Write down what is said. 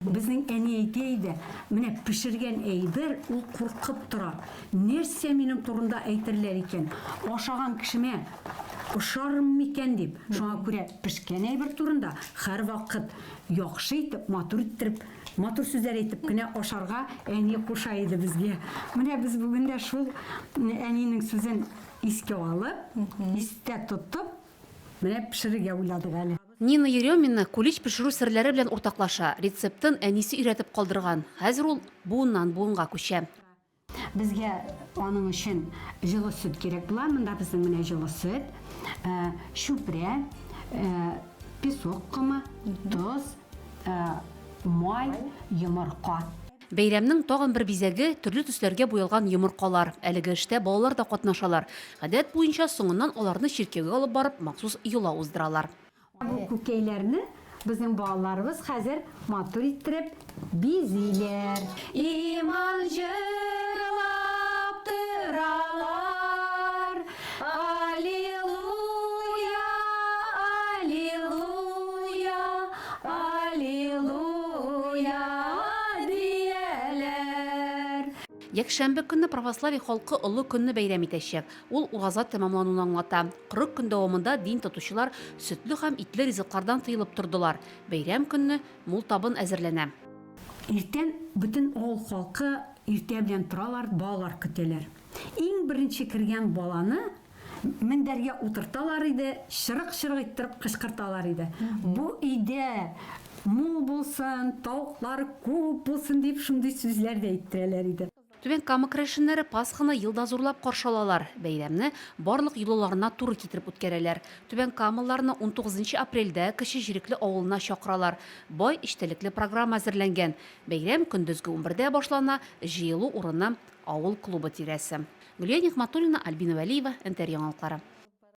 Безнең әни әйтә иде, Менә пешергән әйбер, ул куркып тора. Нәрсә минем турында әйтерләр икән? Ашаган кешемә ошармын микән? дип. Шуңа күрә пешкән әйбер турында һәрвакыт яхшы итеп, матур иттереп, матур сүзләр әйтеп кенә ашарга әни куша иде безгә. Менә без бүген дә шул әнинең сүзен искә алып, истә тотып, менә пешерергә уйладык әле. Нина Еремина кулич пешерү серләре белән уртаклаша. Рецептын әнисе өйрәтеп калдырган. Хәзер ул буыннан буынга күчә. Безгә аның өчен җылы сөт кирәк була. Монда безнең менә җылы сөт, чүпрә, песок комы, тоз, май, йомырка. Бәйрәмнең тагын бер бизәге, төрле төсләргә буялган йомыркалар. Әлеге эштә балалар да катнашалар. Гадәт буенча, соңыннан аларны чиркәүгә алып барып, махсус йола уздыралар. Бу күкәйләрне безнең балаларыбыз хәзер матур иттереп бизиләр. Иман җырлап торалар. Аллилуйя, аллилуйя, аллилуйя дияләр. Якшәмбе көнне православие халкы олы көнне бәйрәм итәчәк. Ул ураза тәмамлануны аңлата. Кырык көн дәвамында дин тотучылар сөтле һәм итле ризыклардан тыелып тордылар. Бәйрәм көнне мул табын әзерләнә. Иртән бөтен авыл халкы иртә белән торалар, балалар көтәләр. Иң беренче кергән баланы мендәргә утырталар иде, чырык-чырык иттереп кычкырталар иде. Бу өйдә мул булсын, тавыклар күп булсын дип шундый сүзләр дә әйттерәләр иде. Түбән Кама керәшеннәре Пасханы елда зурлап каршы алалар. Бәйрәмне барлык йолаларына туры китереп үткәрәләр. Түбән Камалыларны унтугызынчы апрельдә Кече Җирекле авылына чакыралар. Бай эчтәлекле программа әзерләнгән. Бәйрәм көндезге унбердә башлана, җыелу урыны Авыл клубы тирәсе. Гөлия Нигъматуллина, Альбина Вәлиева, НТР яңалыклары.